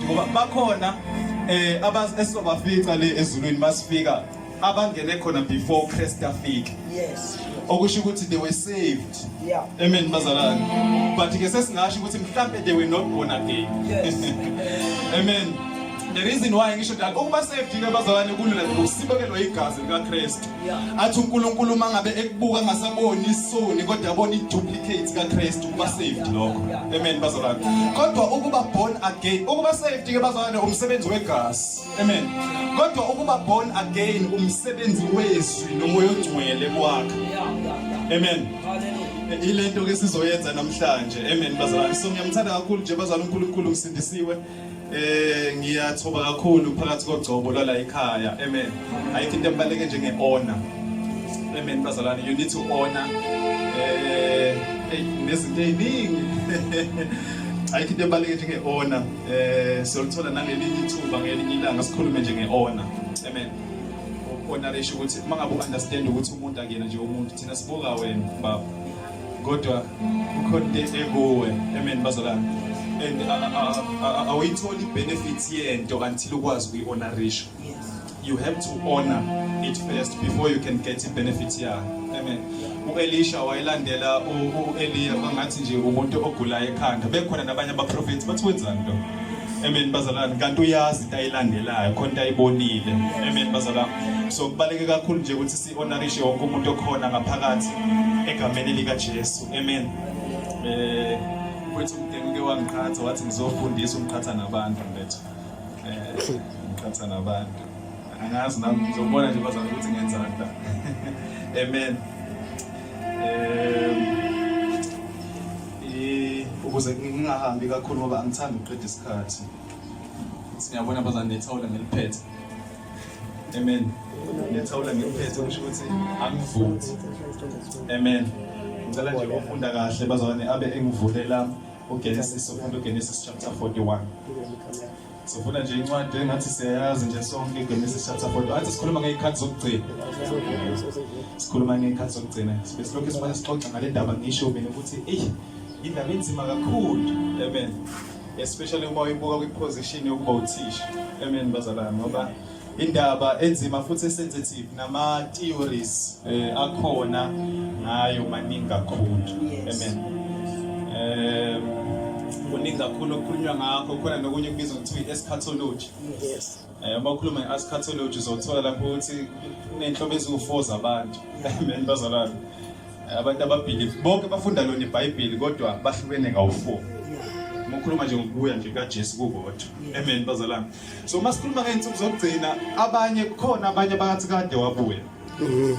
ngoba bakhona eh abas esizobafica le ezulwini basifika abangene khona before Christ afike yes okusho ukuthi they were saved yeah amen bazalwane but ke sesingasho ukuthi mhlambe they were not born again yes amen the reason why ngisho that ukuba saved ke bazalwane kulula ngokusibekelwa igazi likaKristu athi uNkulunkulu mangabe ekubuka ngasaboni isoni kodwa abona iduplicate kaKristu kuba saved lokho amen bazalwane kodwa ukuba born again ukuba saved ke bazalwane umsebenzi wegazi amen kodwa ukuba born again umsebenzi wezwi nomoya ongcwele kwakhe amen ilento ke sizoyenza namhlanje amen bazalwane so ngiyamthanda kakhulu nje bazalwane uNkulunkulu msindisiwe Eh ngiyathoba kakhulu phakathi kogcobo lwala ekhaya. Amen. Ayikho into ebaleke njenge honor. Amen bazalwane you need to honor eh nezinto eziningi. Ayikho into ebaleke njenge honor. Eh siyolithola nangelinye ithuba ngelinye ilanga sikhulume nje nge honor. Amen. Honor isho ukuthi mangabe understand ukuthi umuntu akuyena nje umuntu thina sibuka wena baba. kodwa kukhona into enhle kuwe amen bazalwane and awuyitholi benefits yento until ukwazi ukuyi-honorisha you have to honor it first before you can get i-benefit yayo amen u-elisha wayelandela u-eliya kwangathi nje umuntu ogulayo ekhanda bekhona nabanye abaprofethi bathi wenzani lo amen bazalwane kanti uyazi into ayilandelayo khona into ayibonile amen bazalwane so kubaluleke kakhulu nje ukuthi Sibonakishe wonke umuntu okhona ngaphakathi egameni likaJesu. Amen. Eh kwethu umdeni uke wangiqhatha wathi ngizofundisa umqhatha nabantu mfethu. Eh umqhatha nabantu. Angazi nami ngizobona nje bazama ukuthi ngenzani la. Amen. Eh ukuze ngingahambi kakhulu ngoba angithandi ukuqeda isikhathi siyabona abazanethawula ngeliphethe amen ngethawula ngiphethe kusho ukuthi angivuthi amen ngicela nje ufunda kahle bazalwane abe engivulela uGenesis ufunda uGenesis chapter 41 sifuna nje incwadi engathi siyayazi nje sonke iGenesis chapter 41 athi sikhuluma ngeyikhathi zokugcina sikhuluma ngeyikhathi zokugcina sibe silokhu sibona sixoxa ngale ndaba ngisho mina ukuthi eyi indaba enzima kakhulu amen especially uma uyibuka kwiposition yokuba uthisha amen bazalwane ngoba indaba enzima futhi esensitive nama theories eh, akhona ngayo maningi kakhulu amen eh kuningi kakhulu okukhulunywa ngakho khona nokunye kubizwa kuthiwa i-eschatology yes Eh, uma ukhuluma nge-askatology uzothola lapho ukuthi kuney'nhlobo eziwu-four zabantu amen bazalwane eh, abantu ababhilivi bonke bafunda lona ibhayibheli kodwa bahlukene ngawu-four uma ukhuluma nje ngokubuya nje kajesu kukodwa amen bazalwane so uma sikhuluma ngey'nsuku zokugcina abanye kukhona abanye bakathi kade wabuya mm-hmm.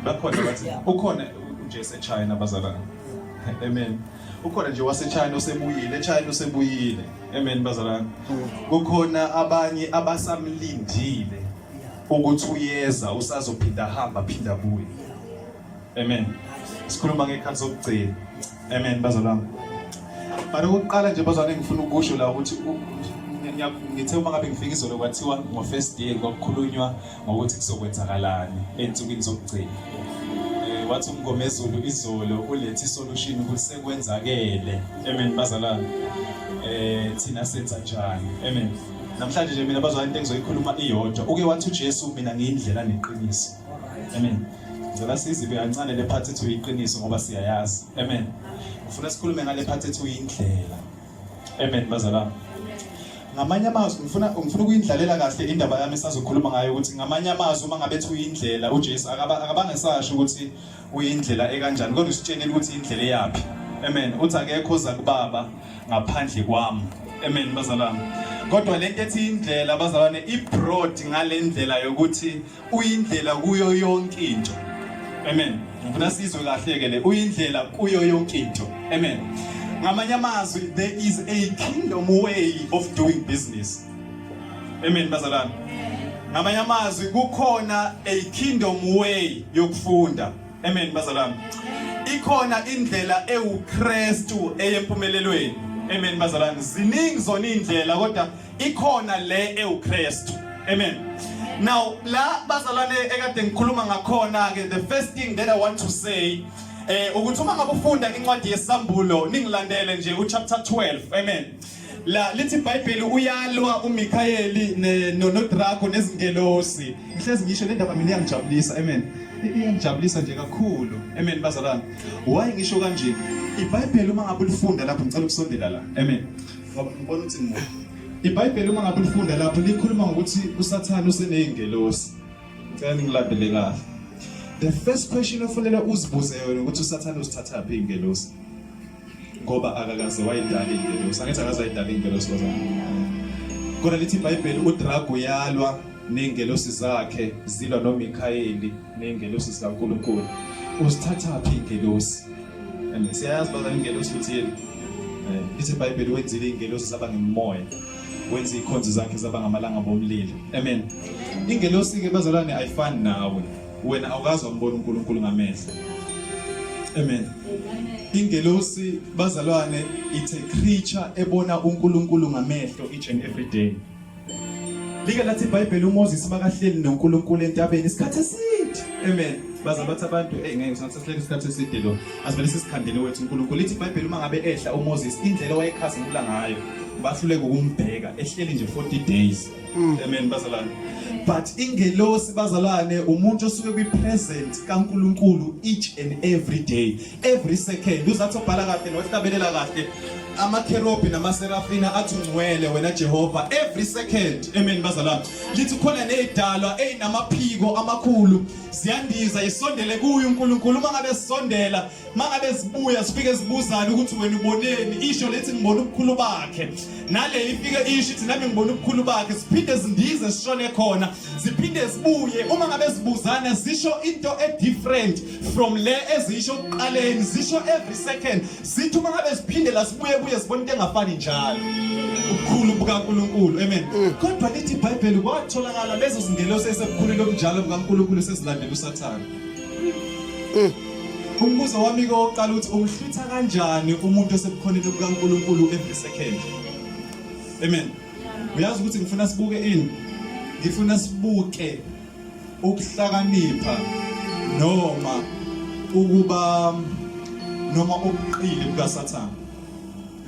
bakhona bathi ukhona ujesu echina bazalwane amen ukhona nje wasechina osebuyile echina osebuyile Amen bazalwane. Kukhona abanye abasamlindile ukuthi uyeza usazophinda hamba phinda buye. Amen. Sikhuluma ngekhathi zokugcina. Amen bazalwane. Mara ukuqala nje bazalwane ngifuna ukusho la ukuthi ngithe uma ngabe ngifika izolo kwathiwa ngo first day kwakukhulunywa ngokuthi kuzokwenzakalani ey'nsukwini zokugcina eh, wathi umngomezulu izolo ulethe isolution ukuthi sekwenzakele amen bazalwane um thina senza njani amen namhlanje nje mina bazalwane into engizoyikhuluma iyodwa uke wathi ujesu mina ngiyindlela neqiniso amen ngicela sizibe kancane le phathi ethi uyiqiniso ngoba siyayazi amen ufuna sikhulume ngale phathi ethi uyindlela Amen bazalwane. Ngamanye amazwi ngifuna ngifuna ukuyindlalela kahle indaba yami esazokhuluma ngayo ukuthi ngamanye amazwi uma ngabe ethi uyindlela uJesu akaba akabange sasho ukuthi uyindlela ekanjani kodwa usitshenile ukuthi indlela eyaphi. Amen. Uthi akekho oza kubaba ngaphandle kwami. Amen bazalwane. Kodwa lento ethi indlela bazalwane ibroad ngalendlela yokuthi uyindlela kuyo yonke into amen ngifuna sizwe kahle ke le uyindlela kuyo yonke into amen ngamanye amazwi there is a kingdom way of doing business amen bazalwane ngamanye amazwi kukhona a kingdom way yokufunda amen bazalwane ikhona indlela ewuKristu eyempumelelweni amen bazalwane ziningi zona indlela kodwa ikhona le ewuKristu amen now la bazalwane ekade ngikhuluma ngakhona ke the first thing that i want to say eh ukuthi uma ngabe ufunda incwadi yesambulo ningilandele nje uchapter 12 amen la lithi iBhayibheli uyalwa uMikhayeli noNodrago nezingelosi ngihlezi ngisho le ndaba mina iyangijabulisa amen iyangijabulisa nje kakhulu amen bazalwane why ngisho kanje iBhayibheli uma ngabe ulifunda lapho ngicela ukusondela la amen ngoba ngibona ukuthi ngibona ibhayibheli uma ngabe ulifunda lapho likhuluma ngokuthi usathane useney'ngelosi ngicela ningilandele kahle the first question ofanele uzibuze yona ukuthi usathane uzithathaphi iy'ngelosi ngoba akakaze wayidala iy'ngelosi angithi akaze wayidala iy'ngelosi kozana kodwa lithi ibhayibheli udrago uyalwa ney'ngelosi zakhe zilwa nomikhayeli nengelosi zikaNkulunkulu usithathaphi ingelosi and siyayazi bazana ingelosi ukuthi yini eh, lithi ibhayibheli wenzile ingelosi zaba ngemoya wenza ikhonzi zakhe zaba ngamalanga bomlilo amen ingelosi ke bazalwane ayifani nawe wena awukazi wambona uNkulunkulu ngamehlo amen ingelosi bazalwane it's a creature ebona uNkulunkulu ngamehlo each and every day Like lathi iBhayibheli uMoses makahleli noNkulunkulu entabeni isikhathi eside. Amen. Baza bathi abantu hey ngeke sisahlele isikhathi eside lo. Asivele sisikhandele wethu uNkulunkulu. Lithi iBhayibheli uma ngabe ehla uMoses indlela wayekhasa ngula ngayo. Bahluleke ukumbheka ehleli nje 40 days. Mm. Amen bazalwane. But ingelosi bazalwane umuntu osuke kwi present kaNkulunkulu each and every day. every second uzathi obhala kahle nohlabelela kahle amakherobi namaserafina athi ungcwele wena Jehova every second amen bazalwane lithi khona nezidalwa ezinamaphiko amakhulu siyandiza isondele kuye uNkulunkulu uma ngabe sisondela mangabe sibuya sifike sibuzana ukuthi wena uboneni isho lethi ngibona ubukhulu bakhe nale ifike isho ithi nami ngibona ubukhulu bakhe siphinde sindize sishone khona siphinde sibuye uma ngabe sibuzana sisho into e different from le ezisho kuqaleni zisho every second zithi uma ngabe ziphindela sibuye kuye sibona into engafani njalo ubukhulu bukaNkulunkulu amen mm. kodwa lithi iBhayibheli kwatholakala lezo zingelosi esebukhulile obunjalo bukaNkulunkulu sezilandela uSathane mm. umbuzo wami ke oqala ukuthi umhlwitha kanjani umuntu osebukhoneni bukaNkulunkulu every second amen uyazi ukuthi ngifuna sibuke ini ngifuna sibuke ukuhlakanipha noma ukuba noma ubuqili bukaSathane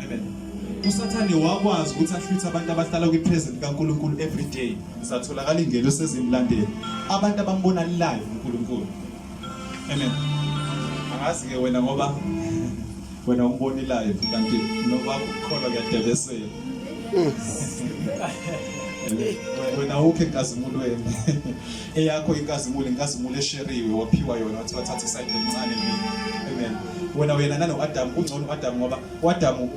amen uSathane wakwazi ukuthi ahlwithe abantu abahlala kwipresent kaNkulunkulu every day satholakala ingelo sezimlandeli abantu abambona live uNkulunkulu Amen. Angazi ke wena ngoba wena umbonilayo kanti noba ukukholwa kuyadebesela. wena awukho enkazimulweni eyakho inkazimulo inkazimulo esheriwe waphiwa yona wathi wathatha isayidi elincane mina amen wena wena nanoadamu kungcono uadamu ngoba uadamu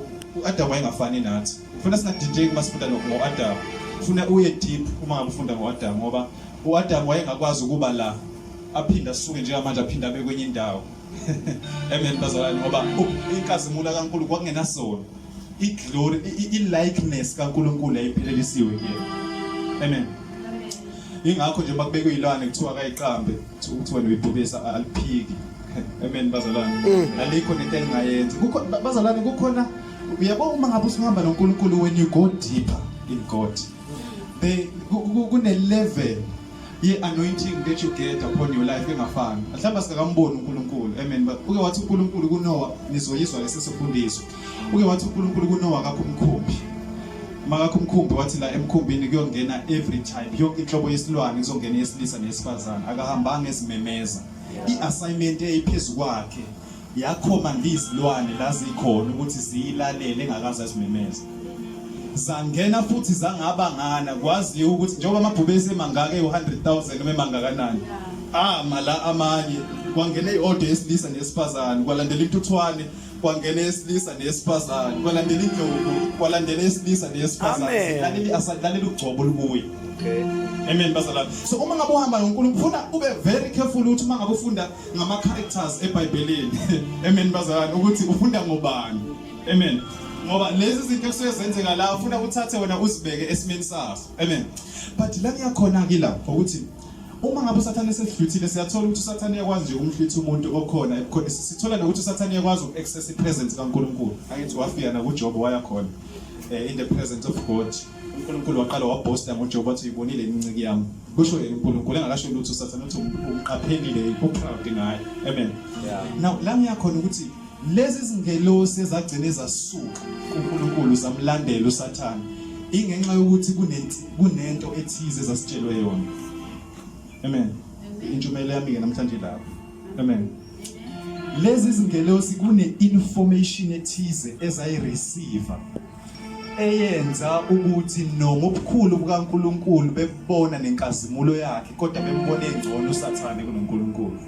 uadamu wayengafani nathi funa singadideki uma sifunda ngo-adamu funa uye deep uma ngabe ufunda ngo-adamu ngoba u-adamu wayengakwazi ukuba la aphinde asuke njengamanje aphinde abe kwenye indawo amen bazalwane ngoba inkazimulo kaNkulunkulu kwakungenasona iglory ilikeness kaNkulunkulu ayiphelelisiwe kuyena amen ingakho nje makubekwe ilwane kuthiwa akayiqambe kuthiwa nibhubesa aliphiki amen bazalwane mm. alikho nento engayenzi kukho bazalwane kukhona uyabo uma ngabe usihamba noNkulunkulu when you go deeper in God the kune level i-anointing that you get upon your life engafani mhlawumbe sikakamboni uNkulunkulu amen but uke wathi uNkulunkulu kuNowa nizoyizwa lesi sifundiso uke wathi uNkulunkulu kuNowa akakho umkhumbi makakho umkhumbi wathi la emkhumbini kuyongena every type yonke inhlobo yesilwane kuzongena yesilisa nesifazane akahambanga ezimemeza i-assignment eyiphezulu kwakhe yakhomanda izilwane lazikhona ukuthi ziyilalele engakaze azimemeze zangena futhi zangabangana kwaziwa ukuthi njengoba amabhubesi emangaka ewu-100,000 noma emangakanani ama la amanye kwangena i-order yesilisa nesifazane kwalandela intuthwane kwangena esilisa nesifazane kwalandela indlovu kwalandela esilisa nesifazane lalela ugcobo lukuye amen bazalwane so uma ngabe uhamba nonkulunkulu ufuna ube very careful ukuthi uma ngabe ufunda ngama characters eBhayibhelini amen bazalwane ukuthi ufunda ngobani amen ngoba lezi zinto ekusuke zenzeka la ufuna uthathe wena uzibeke esimeni saso amen but la kuyakhona ke la ukuthi uma ngabe usathane esedluthile siyathola ukuthi usathane uyakwazi nje ukumhlitha umuntu okhona ebukhona sithola nokuthi usathane uyakwazi uku-access i-presence kaNkulunkulu angithi wafika nakuJob wayakhona eh, in the presence of God uNkulunkulu waqala wabhosta ngoJobe wathi uyibonile iminciki yami kusho yena uNkulunkulu engakasho lutho usathane uthi umqaphelile uproud ngaye amen now la ngiyakhona ukuthi lezi zingelosi ezagcina ezasuka kuNkulunkulu zamlandela usathane ingenxa yokuthi kunento ethize zasitshelwe yona amen intshumayelo yami-ke namhlanje lapho amen lezi zingelosi kune-information ethize ezayireceiva eyenza ukuthi noma ubukhulu bukaNkulunkulu bebona nenkazimulo yakhe kodwa bembone engcono usathane kunoNkulunkulu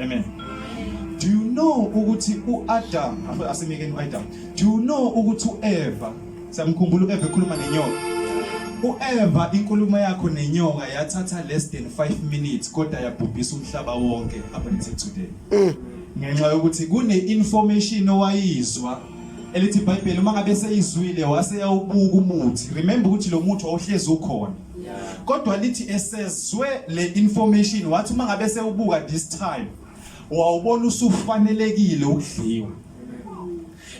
amen do you know ukuthi uAdam asemekeni uAdam do you know ukuthi uEva samkhumbula uEva ekhuluma nenyoka uEva inkulumo yakho nenyoka yathatha less than 5 minutes kodwa yabhubhisa umhlaba wonke up until today mm. ngenxa yokuthi kune information owayizwa elithi iBhayibheli uma ngabe seyizwile waseyawubuka umuthi remember ukuthi lo muthi wawuhlezi ukhona kodwa lithi esezwe le information wathi uma ngabe sewubuka this time wawubona usufanelekile ukudliwa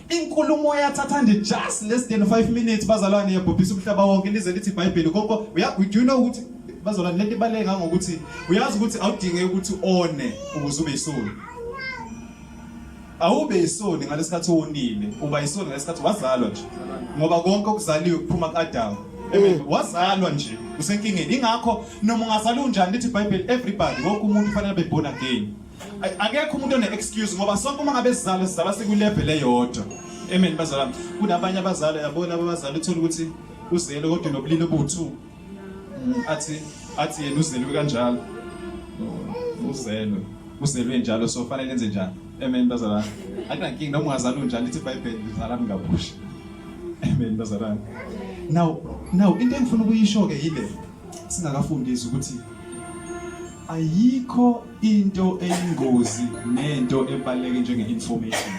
inkulumo yathatha nje just less than 5 minutes bazalwane yabhubhisa umhlaba wonke lize lithi iBhayibheli konke uya do you know ukuthi bazalwane lento ibaleke ngangokuthi uyazi ukuthi awudinge ukuthi one ukuze ube isulu Awube yisoni ngalesikhathi wonile, uba yisoni ngalesikhathi wazalwa nje. Ngoba konke okuzaliwe kuphuma kuAdamu. Amen. Mm. Wazalwa nje usenkingeni. Ingakho noma ungazalwa unjani lithi iBhayibheli everybody wonke umuntu kufanele abe born again. Akekho umuntu one excuse ngoba sonke uma ngabe sizalwa sizalwa sikulevel eyodwa. Amen bazalwane. Kunabanye abazali yabona abazali uthola ukuthi uzele kodwa nobulili obuthu. athi athi yena uzelwe kanjalo uzelwe uzelwe njalo so fanele enze njani amen bazalwane akunankingi noma ungazalwa unjani lithi ibhayibheli lizalani ngabusha amen bazalwane now now into engifuna ukuyisho-ke yile singakafundisi ukuthi ayikho into eyingozi nento ebaluleke njenge-information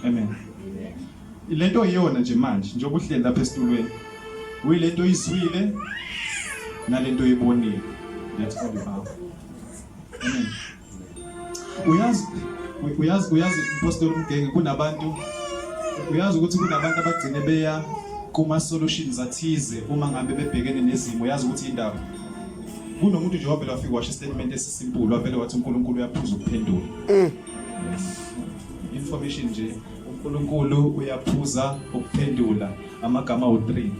amen Le nto iyona nje manje njengoba uhleli lapha esitulweni uyile nto oyizwile nale nto oyibonile that's all you have amen uyazi uyazi uyazi impostoli umgenge kunabantu uyazi ukuthi kunabantu abagcine beya kuma-solutions athize uma ngabe bebhekene nezimo uyazi ukuthi indaba kunomuntu nje wavele wafika washo istatement esisimpulu wavele wathi unkulunkulu uyaphuza ukuphendula mm. information nje uNkulunkulu uyaphuza ukuphendula amagama awu-3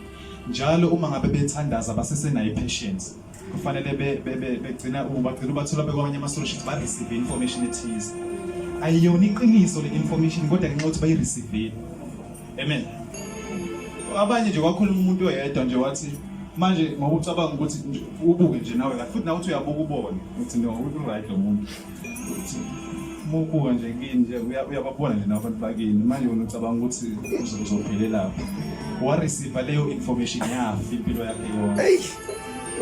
njalo uma ngabe bethandaza basesenayo i-patience kufanele begcina bagcina ubathola bekwamanye ama-solutions ba-receive information ethize ayiyona iqiniso le information kodwa ngenxa ukuthi bayi-receive amen abanye nje kwakhuluma umuntu oyedwa nje wathi manje ngokucabanga ukuthi ubuke nje nawe futhi nawe uthi uyabuka ubone ukuthi no uright lo muntu bubuka nje kini nje uyababona nje nabantu bakini manje wena ucabanga ukuthi uzophelelaphi wareceiva leyo information yafi impilo yakhe yona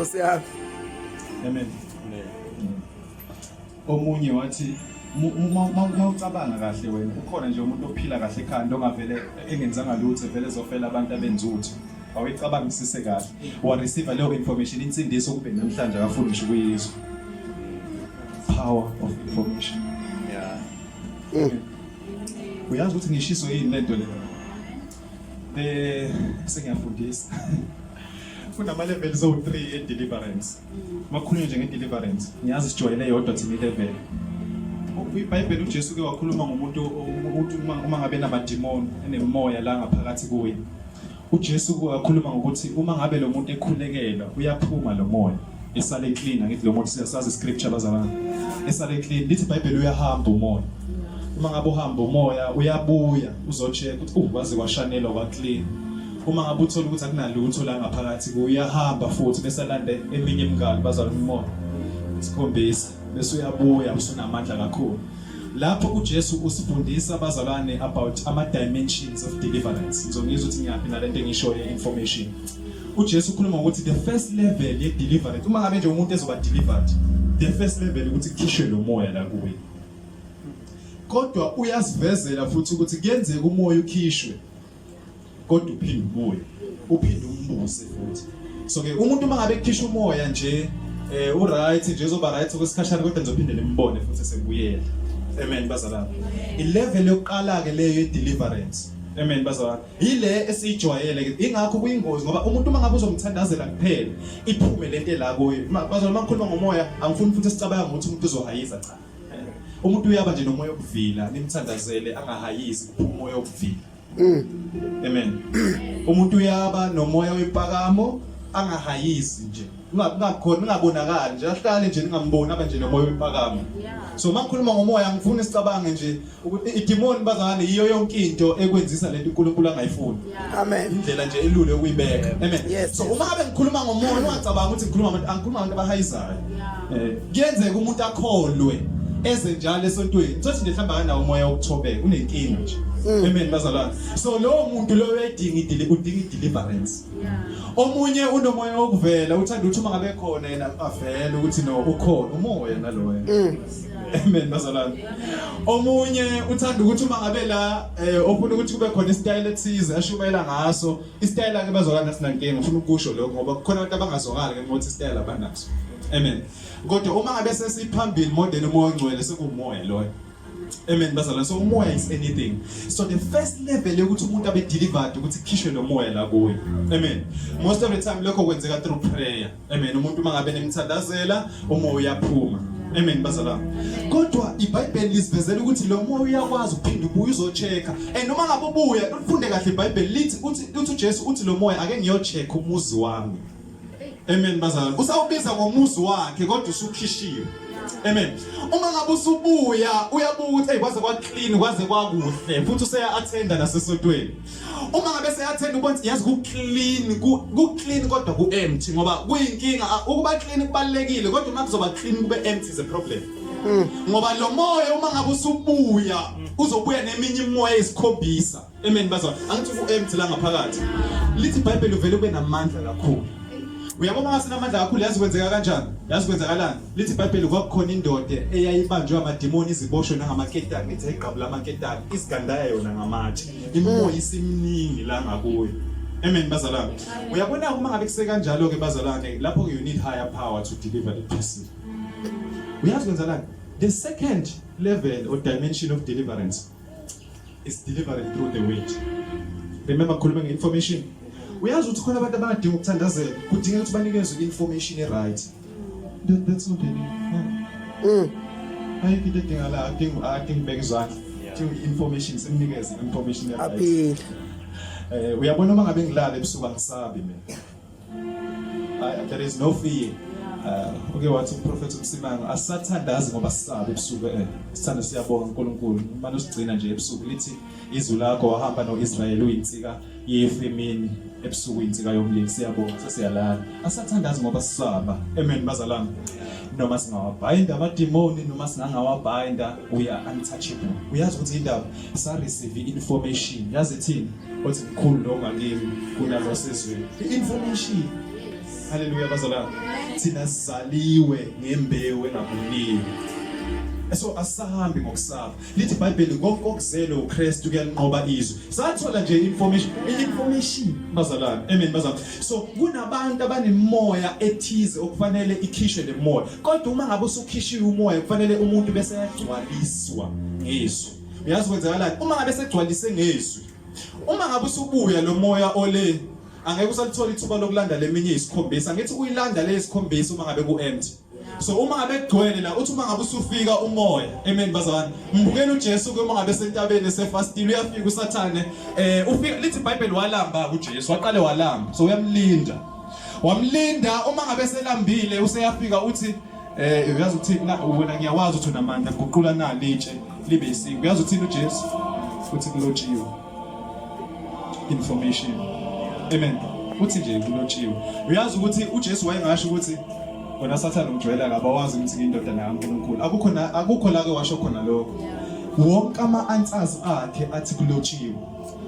useyafi amen omunye wathi mawucabanga kahle wena ukhona nje umuntu ophila kahle ekhanda ongavele engenzanga lutho vele ezofela abantu abenzuthu awayicabangisise kahle wareceive leyo information insindiso kube namhlanje akafuni ngisho ukuyizwa power of information yeah mm. uyazi ukuthi ngishiso yini lento le eh sengiyafundisa kunama levels o 3 e deliverance makhulunywa nje nge deliverance ngiyazi sijwayele yodwa thina i level iBhayibheli uJesu ke wakhuluma ngomuntu ukuthi uma ngabe namadimoni enemoya la ngaphakathi kuye UJesu wakhuluma ngokuthi uma ngabe lo muntu ekhulekela uyaphuma lo moya esale clean angithi lo muntu siyasazi scripture bazalana esale clean lithi iBhayibheli uyahamba umoya uma ngabe uhamba umoya uyabuya uzocheck ukuthi uh waze washanelwa kwa clean uma ngabe uthola ukuthi akunalutho la ngaphakathi kuyahamba futhi bese alande eminye imingalo bazalana umoya isikhombisa bese uyabuya usunamandla kakhulu Lapho uJesu usifundisa abazalwane about ama dimensions of deliverance. Ngizongizwa ukuthi ngiyaphi nalento engishoyo information. uJesu ukhuluma ukuthi the first level ye deliverance uma ngabe nje umuntu ezoba delivered the first level ukuthi kukhishwe lo moya la kuwe kodwa uyasivezela futhi ukuthi kuyenzeka umoya ukhishwe kodwa uphinde ubuye uphinde umbuse futhi so ke umuntu uma ngabe ekhishwa umoya nje eh u right nje uzoba right kwesikhashana kodwa ngizophinde nimbone futhi sekubuyela amen bazalana ilevel yokuqala ke leyo ye deliverance Amen bazalwane. Yile esijwayele ke ingakho kuyingozi ngoba umuntu uma ngabe uzomthandazela kuphela iphume lento la kuye. Bazalwane uma ngikhuluma ngomoya angifuni futhi sicabanga ukuthi umuntu uzohayiza cha. umuntu uyaba nje nomoya obuvila nimthandazele angahayisi umoya obuvila mm. amen umuntu uyaba nomoya wempakamo angahayisi nje ungakhona ungabonakali nje ahlale nje ningamboni abe nje nomoya wempakamo so makhuluma ngomoya ngifuna sicabange nje ukuthi idimoni bazalwane yiyo yonke into ekwenzisa lento uNkulunkulu angayifuni amen indlela nje elule ukuyibeka amen yes. so uma abe ngikhuluma ngomoya ungacabanga ukuthi ngikhuluma abantu angikhuluma abantu abahayizayo eh kuyenzeka umuntu akholwe eze njalo esontweni sothi nje hlamba kanawo umoya wokuthobeka unenkinga nje mm. amen bazalwane so lowo muntu loyo uyayidinga idili udinga ideliverance omunye unomoya wokuvela uthanda ukuthi uma ngabe khona yena avele ukuthi no ukhona umoya naloyo mm. Amen bazalwane. Omunye uthanda ukuthi uma ngabe la eh ofuna ukuthi kube khona isitayela ethize ashumayela ngaso. Isitayela ke bazalwane sinankinga ngifuna ukusho lokho ngoba kukhona abantu abangazwakali ke ngokuthi isitayela banaso. Amen. Kodwa uma ngabe sesiphambili modeni umoya ongcwele sekumoya loyo. Amen bazalwane. So umoya is anything. So the first level yokuthi umuntu abe delivered ukuthi khishwe lo moya la kuye. Amen. Most of the time lokho kwenzeka through prayer. Amen. Umuntu mangabe nemthandazela umoya uyaphuma. Amen bazalwa. Kodwa iBhayibheli lisivezela ukuthi lo moya uyakwazi ukuphinda ubuye uzochecka. And noma ngabe ubuye ulifunde kahle iBhayibheli lithi uthi uthi uJesu uthi lo moya ake ngiyochecka umuzi wami. Amen bazalwa. Usawubiza ngomuzi wakhe kodwa usukhishiwe. Amen. Uma ngabe usubuya uyabuka ukuthi hey kwaze kwa clean kwaze kwakuhle futhi useya attenda nasesotweni. uma ngabe seyathenda ubona yazi ku clean ku clean kodwa ku empty ngoba kuyinkinga ukuba clean kubalekile kodwa uma kuzoba clean kube empty is a problem hmm. ngoba lo moya uma ngabe usubuya uzobuya neminye imoya esikhombisa amen bazwa angithi ku empty la ngaphakathi lithi bible uvele ube namandla kakhulu uyabona uma sinamandla kakhulu yazi kwenzeka kanjani yazi kwenzakalani lithi ibhayibheli kwakukhona indoda eyayibanjwe amadimoni iziboshwe nangamaketani ithi ayigqabula amaketani isigandaya yona ngamatshe Imimoya isimningi la ngakuyo. Amen bazalwane. Uyabona uma ngabe kuse kanjalo ke bazalwane lapho you need higher power to deliver the person. Uyazi kwenzalani? The second level or dimension of deliverance is delivered through the word. Remember khuluma nge-information. Uyazi ukuthi khona abantu abadinga ukuthandazela, kudingeka ukuthi banikezwe i-information e-right. That, that's not any. Mm. Ayikho into edinga la, adinga adinga ibeke izandla. To information simnikeze information yakhe. Aphile. Eh uyabona uma ngabe ngilala ebusuku angisabi mina. I, there is no fear. Uh, uke wathi umprofethi uMsimanga asathandazi ngoba sisabe ebusuku eh sithanda siyabonga uNkulunkulu manje usigcina nje ebusuku lithi izwi lakho wahamba noIsrael uyinsika Yes emini ebusuku insika yomlilo siyabonga sesiyalala. Asathandazi ngoba sisaba. Amen bazalami. Noma singawabhainda amademoni noma singangawabhainda we are untouchable. Uyazi ukuthi indaba sa receive information. Yazi ithini? Othi mkhulu lo ngakimi kunalo sezweni. Information. Hallelujah bazalami. Thina sizaliwe ngembewu engabuniwe. So asahambi ngokusaba. lithi ibhayibheli konke okuzele ukristu kuyalinqoba izwe sathola nje information information bazalwane amen bazalwane so kunabantu abanemoya ethize okufanele ikhishwe le moya kodwa uma ngabe usukhishiwe umoya kufanele umuntu bese yagcwaliswa ngizwi uyazi kwenzakalani uma ngabe segcwalise ngizwi uma ngabe usubuya lo moya ole angeke usalithola ithuba lokulanda leminye isikhombisa ngithi uyilanda lesikhombisa uma ngabe ku empty so uma ngabe kugcwele la uthi uma ngabe usufika umoya amen bazalwane mbukela uJesu ke uma ngabe sentabeni sefastile uyafika usathane eh ufika lithi iBhayibheli walamba kuJesu waqale walamba so uyamlinda wamlinda uma ngabe selambile useyafika uthi eh uyazi ukuthi wena ngiyawazi ukuthi unamandla guqula nali itshe libe isiko uyazi uthini uJesu uthi kulotshiwe information amen uthi nje kulotshiwe uyazi ukuthi uJesu wayengasho ukuthi wena sathane ujwayela akabawazi ukuthi ngiyindodana kaNkulunkulu akukho na akukho la ke washo khona lokho wonke ama answers akhe athi kulotshiwe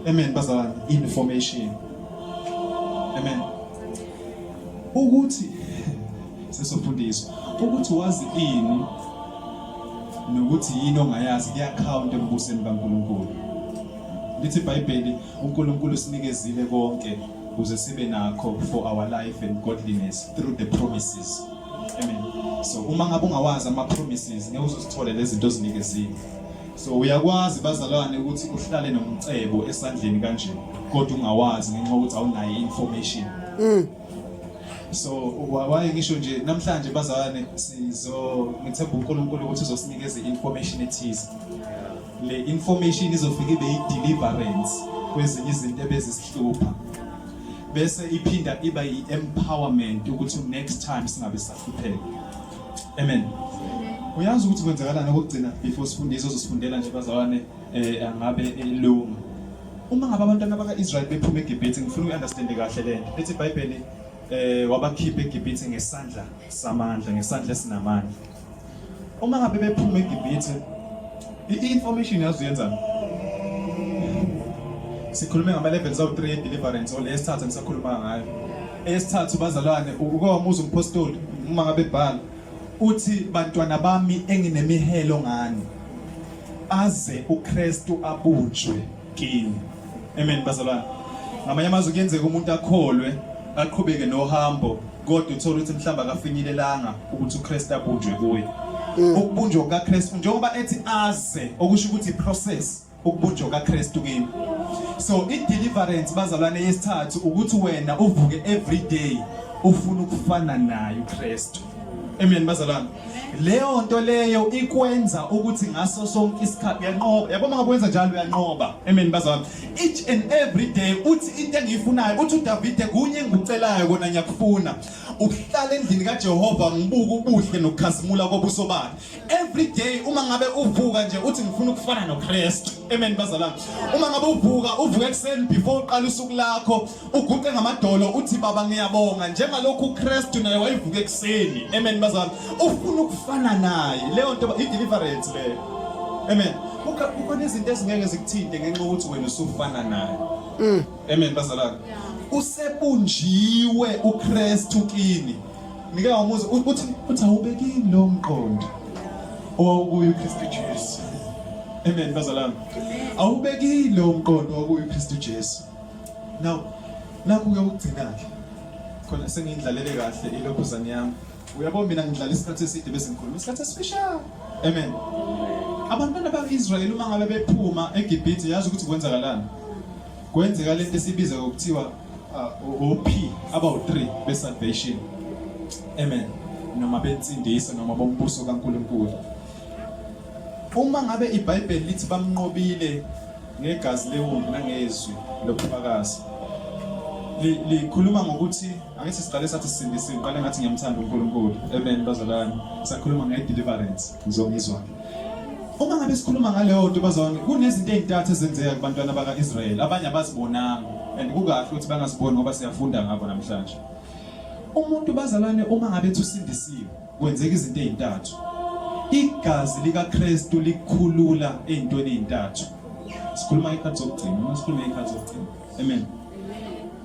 amen bazalwane information amen ukuthi sesofundiswa ukuthi wazi ini nokuthi yini ongayazi kuyakhawunta embusweni kaNkulunkulu lithi iBhayibheli uNkulunkulu sinikezile konke ukuze sibe nakho for our life and godliness through the promises amen so uma ngabe ungawazi ama promises ngeke uzosithole lezinto ozinikezile so uyakwazi bazalwane ukuthi uhlale nomcebo esandleni kanje kodwa ungawazi ngenxa ukuthi awunayo information mm. so waye ngisho nje namhlanje bazalwane sizo ngithemba uNkulunkulu ukuthi uzosinikeza i-information ethize le information izofika ibe i-deliverance kwezinye izinto ebezisihlupha bese iphinda iba i-empowerment ukuthi next time singabe sahlupheka amen uyazi ukuthi kwenzakalani okugcina before sifundisa uzosifundela nje bazalwane eh angabe elunga uma ngabe abantwana baka-israyeli bephuma egibhithi ngifuna uyi-understande kahle le nto ethi ibhayibheli eh wabakhipha egibhithi ngesandla samandla ngesandla esinamandla uma ngabe bephuma egibhithi i-information yazi uyenzani sikhulume ngama-levels awu-3 e-deliverance or le esithathu engisakhuluma ngayo eyesithathu bazalwane ukowamuza umpostoli uma ngabe bhala uthi bantwana bami enginemihelo ngani aze uKristu abunjwe kini amen bazalwane ngamanye amazwi kuyenzeka umuntu akholwe aqhubeke nohambo kodwa uthola ukuthi mhlawumbe akafinyelelanga ukuthi uKristu abunjwe kuye mm. ukubunjwa kukaKristu njengoba ethi aze okusho ukuthi process ukubunjwa kukaKristu kimi so i-deliverance bazalwane yesithathu ukuthi wena uvuke every day ufuna ukufana naye uKristu Amen bazalwane. Leyo nto leyo ikwenza ukuthi ngaso sonke isikhathi uyanqoba. Yabo mangakwenza njalo uyanqoba. Amen bazalwane. Each and every day uthi into engiyifunayo uthi uDavide kunye engikucelayo kona ngiyakufuna. Ukuhlala endlini kaJehova ngibuka ubuhle nokukhazimula kobuso bakhe. every day uma ngabe uvuka nje uthi ngifuna ukufana noKristu amen bazalwane uma ngabe uvuka uvuka ekuseni before uqala usuku lakho uguqe ngamadolo uthi baba ngiyabonga njengalokhu uKristu naye wayivuka ekuseni amen bazalwane ufuna ukufana naye leyo nto i deliverance leyo amen kukhona izinto ezingeke zikuthinte ngenxa ukuthi wena usufana naye mm. amen bazalwane usebunjiwe uKristu kini Ngike wamuza uthi uthi awubekini lo mqondo owawukuyo uKristu Jesu. Amen bazalwane. Awubekini lo mqondo owawukuyo uKristu Jesu. Now nakhu uyokugcina ke. Khona sengindlalele kahle ilokhuzane yami. Uyabo mina ngidlala isikhathi eside bese ngikhuluma isikhathi esifishane. Amen. Abantwana bakwa-Israyeli uma ngabe bephuma eGibhithe yazi ukuthi kwenzakalani. Kwenzeka lento esibiza ngokuthiwa uh, OP abawu-3 be-salvation amen noma bensindiso noma bombuso kaNkulunkulu uma ngabe iBhayibheli lithi bamnqobile ngegazi lewundlu nangezwi lobufakazi likhuluma ngokuthi angithi siqale sathi sisindisiwe ngiqale ngathi ngiyamthanda uNkulunkulu amen bazalwane sakhuluma nge-deliverance Ngizongizwa. Uma ngabe sikhuluma ngaleyo nto bazalwane kunezinto ezintathu ezenzeka kubantwana baka-Israyeli abanye abazibonanga and kukahle ukuthi bangaziboni ngoba siyafunda ngabo namhlanje. Umuntu bazalwane uma ngabe usindisiwe kwenzeka izinto ezintathu. Igazi likaKristu likhulula ezintweni ezintathu. Sikhuluma ikhathi zokugcina, uma sikhuluma ikhathi zokugcina. Amen.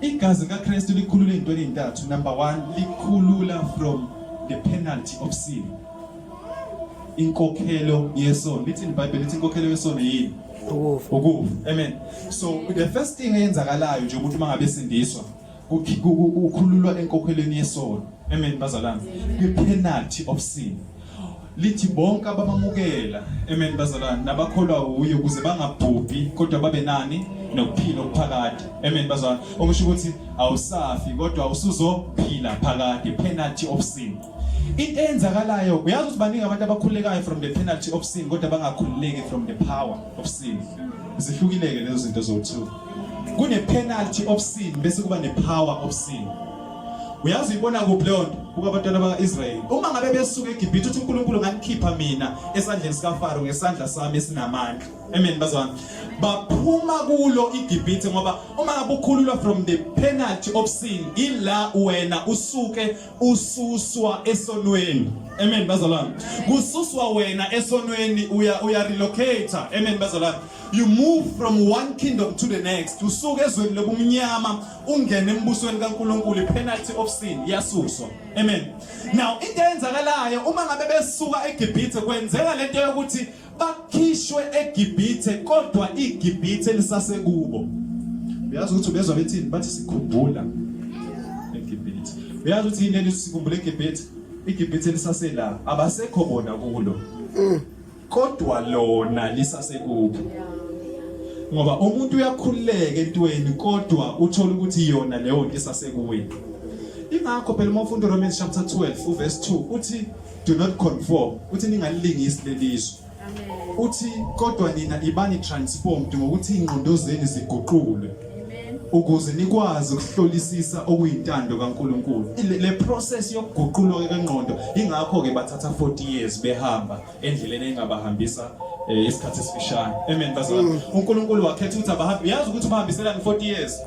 Igazi likaKristu likhulula ezintweni ezintathu. Number 1 likhulula from the penalty of sin. inkokhelo yesono lithi iBhayibheli lithi inkokhelo yesono yini ukufa ukufa amen so the first thing eyenzakalayo nje ukuthi mangabe sindiswa ukhululwa enkokhelweni yesono amen bazalwane kwi penalty of sin lithi bonke abamamukela amen bazalwane nabakholwa uye ukuze bangabhubhi kodwa babe nani nokuphila okuphakade amen bazalwane okusho ukuthi awusafi kodwa usuzophila phakade penalty of sin into eyenzakalayo uyazi ukuthi baningi abantu abakhululekayo from the penalty of sin kodwa bangakhululeki from the power of sin zihlukileke lezo zinto zowu-two kune-penalty of sin bese kuba ne-power of sin uyazi uyibona kuphi leyo nto buka abantwana baka-israyeli uma ngabe besuka egibhithe uthi unkulunkulu nganikhipha mina esandleni sikafaro ngesandla sami esinamandla amen bazwana baphuma kulo igibhithe ngoba uma ngabe ukhululwa from the penalty of sin ila wena usuke ususwa esonweni amen bazalwane kususwa wena esonweni uya uya relocate amen bazalwane you move from one kingdom to the next usuke ezweni lobumnyama ungene embusweni kaNkuluNkulu penalty of sin yasuswa amen now into eyenzakalayo uma ngabe besuka eGibhithe kwenzeka lento yokuthi bakhishwe eGibhithe kodwa iGibhithe lisasekubo uyazi ukuthi ubezwa bethini bathi sikhumbula eGibhithe uyazi ukuthi yini elisikhumbula eGibhithe iGibhithe lisasela abasekho bona kulo mm. kodwa lona lisasekubo ngoba umuntu uyakhululeka entweni kodwa uthola ukuthi yona leyo nto isasekuwini ingakho phela uma ufunda uRomans chapter 12 uverse 2 uthi do not conform uthi ningalilingisi lelizwe uthi kodwa nina ibani transformed ngokuthi ingqondo zenu ziguqulwe ukuze nikwazi ukuhlolisisa okuyintando kaNkuluNkulu le process yokuguqulwa kengqondo ingakho ke bathatha 40 years behamba endleleni engabahambisa eh, isikhathi esifishane amen bazalwa mm. uNkulunkulu wakhetha ukuthi abahambe uyazi ukuthi ubahambiselani 40 years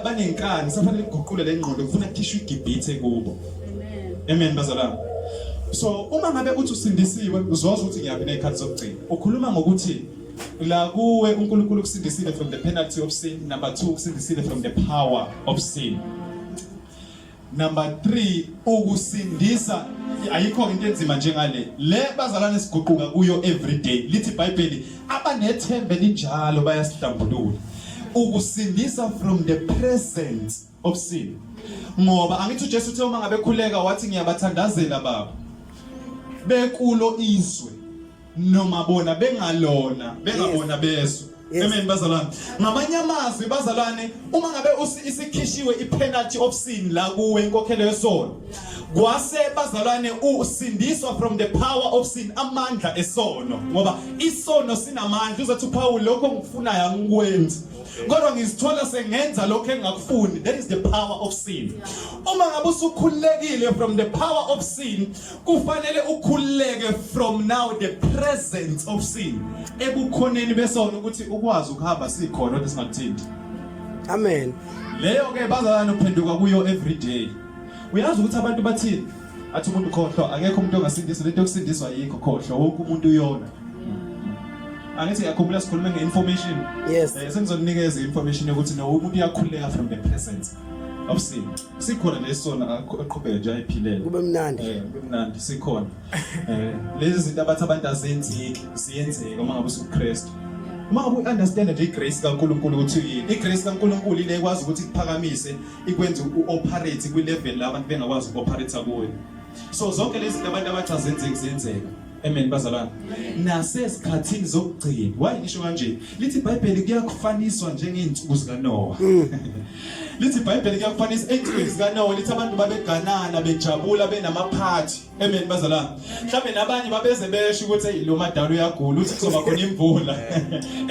banenkani safanele kuguqule le ngqondo kufuna kukhishwe igibhithe kubo amen amen bazalwane so uma ngabe uthi usindisiwe uzozwa ukuthi ngiyaphi nezikhathi zokugcina ukhuluma ngokuthi la kuwe uNkulunkulu ukusindisile from the penalty of sin number 2 ukusindisile from the power of sin number 3 ukusindisa ayikho into enzima njengale le bazalwane siguquka kuyo every day lithi iBhayibheli abanethembe linjalo bayasihlambulula ukusindisa from the present obusile ngoba angithi uJesu uthe uma ngabe khuleka wathi ngiyabathandazela baba bekulo izwe noma bona bengalona bengabona bezwe Amen bazalwane. Ngamanye amazwi bazalwane uma ngabe isikhishiwe ipenalty of sin la kuwe inkokhelo yesono. Kwase bazalwane usindiswa from the power of sin amandla esono ngoba isono sinamandla uzothi uPaul lokho ngikufunayo angikwenzi. kodwa ngizithola sengenza lokho engakufuni that is the power of sin uma ngabe usukhululekile from the power of sin kufanele ukhululeke from now the presence of sin ebukhoneni besona ukuthi ukwazi ukuhamba sikhona ukuthi singakuthinti amen leyo ke bazalana uphenduka kuyo every day uyazi ukuthi abantu bathini athi umuntu khohlwa akekho umuntu ongasindiswa lento yokusindiswa yikho khohlwa wonke umuntu uyona angithi ngiyakhumbula sikhulume nge-information yes eh, sengizokunikeza i-information yokuthi no umuntu uyakhuleka from the presence of sin sikhona lesona aqhubeke nje ayiphilele kube mnandi eh kube mnandi sikhona eh lezi zinto abathi abantu azenzeki ziyenzeka uma ngabe usuKristu uma ngabe uunderstand nje igrace kaNkuluNkulu ukuthi yini igrace kaNkuluNkulu ile kwazi ukuthi kuphakamise ikwenza u-operate kwi-level la abantu bengakwazi uku-operate kuyo so zonke lezi zinto abantu abathi azenzeki zenzeka amen bazalwane nasesikhathini zokugcina waye ngisho kanje lithi ibhayibheli kuyakufaniswa njengey'nsuku zikanowa mm. lithi ibhayibheli kuyakufanisa ey'nsukwini zikanowa lithi abantu babeganana bejabula benamaphathi Amen bazalwane. Mhlawumbe nabanye babeze besho ukuthi hey lo madala uyagula uthi kuzoba khona imvula.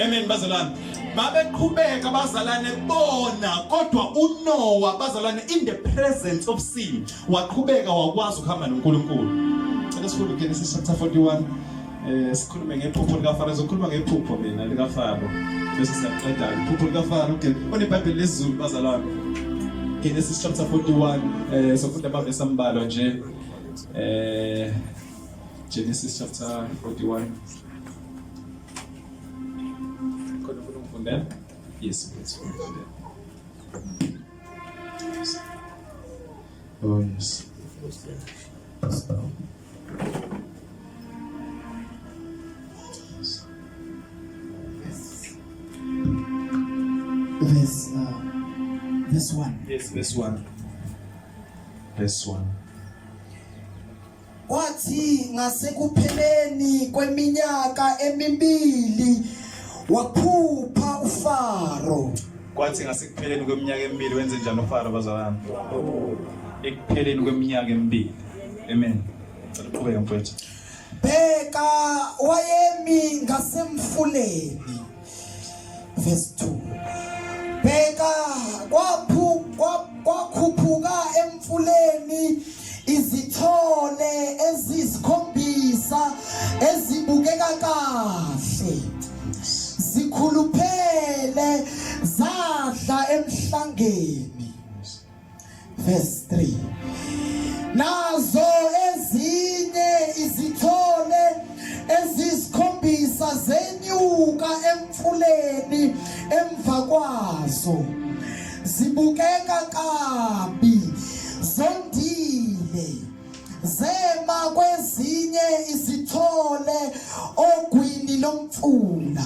Amen bazalwane. Babeqhubeka bazalane bona kodwa uNoah bazalane in the presence of sin waqhubeka wakwazi ukuhamba noNkulunkulu. Cela sifunde uGenesis chapter 41 Eh sikhulume ngephupho likaFaro, ngizokhuluma ngephupho mina likaFaro. Bese siyaqeda iphupho likaFaro. Okay, uneBhayibheli lesiZulu bazalwane. Genesis chapter 41 eh sofunda amavesi ambalwa nje. Eh Genesis chapter 41 Khona ufuna ukufundela? Yes, please. Oh, yes. verse 1. Verse 1. Wathi ngasekupheleni kweminyaka emibili waphupha uFaro. Kwathi ngasekupheleni kweminyaka emibili wenze njani uFaro bazalwane? Ekupheleni kweminyaka emibili Amen. Cela uqhubeke mfowethu. Bheka wayemi ngasemfuleni. Verse 2. Bheka kwaphu kwakhuphuka emfuleni izithole ezisikhombisa ezibukeka kahle zikhuluphele zadla emhlangeni verse 3 nazo ezinye izithole ezisikhombisa zenyuka emfuleni emva kwazo zibukeka kabi zondile zema kwezinye izithole ogwini lomfula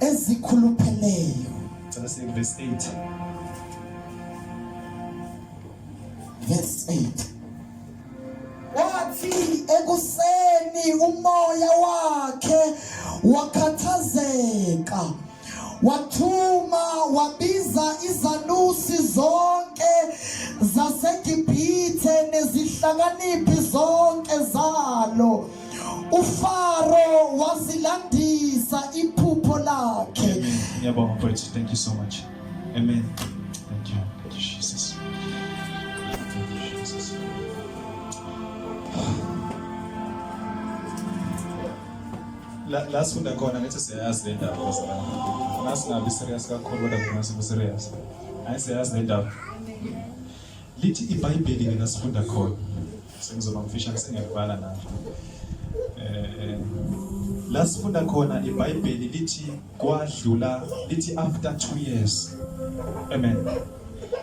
ezikhulupheleyo Cela siye verse 8. verse 8 wathi ekuseni umoya wakhe wakhathazeka wathuma wabiza izanusi zonke zasegibhithe nezihlakaniphi zonke zalo uFaro wasilandisa iphupho lakhe ngiyabonga mfowethu thank you so much amen thank you Jesus la la sifunda khona ngithi siyayazi le ndaba la singabi serious kakhulu kodwa ngingasibi serious ayi siyayazi le ndaba lithi ibhayibheli mina sifunda khona sengizoba mfishane sengiyakubala la eh la sifunda khona ibhayibheli lithi kwadlula lithi after 2 years amen